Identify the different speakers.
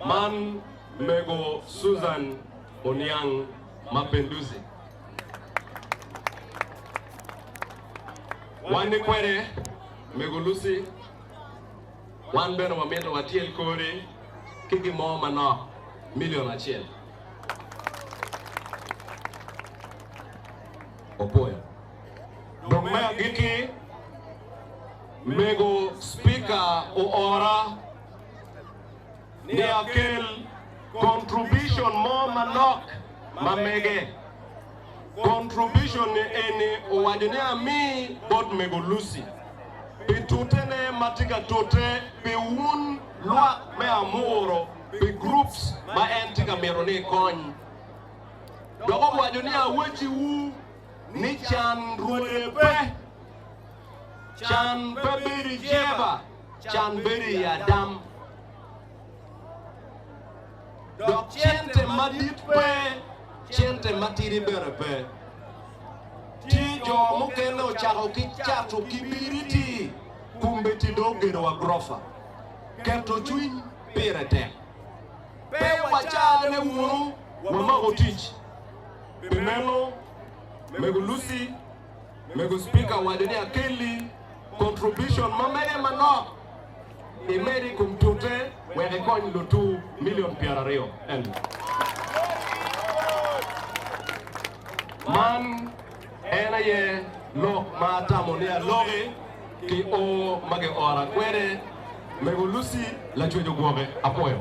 Speaker 1: Man mego Susan Oniang ma Pendusi. Wan ni kwede mego Lucy. Wan bene wamito watyel kori ki gin mo manok milion acel. Opwoyo. Dong me agikki, mego Spika oora. ni akel contribution mo manok ma mege. Contribution ni eni owaco ni ami bot Mego Lucy pi tute ne ma tye ka tute pi wun lwak me Amuru pi groups ma en tye ka mito ni ikony. Dok owaco ni awaci wu ni can rwode pe, can pe bedo i jeba. can bedo i adam, dok cente madit pe, cente matidi bene pe. Tye jo mukene ocako ki cato kibiriti, kombeddi dong ogedo wa gurofa. Keto cwiny pire tek. Pe wacane wunu, wamako tic. Pi meno, Mego Lucy, Mego Speaker wade ni akelli contribution ma mege manok imed i kom tute wek ikony lutu million pyera aryo en. Man en aye lok ma atamo ni aloki ki oo ma giora kwede. Mego Lucy lacwec ogwoke. Apwoyo.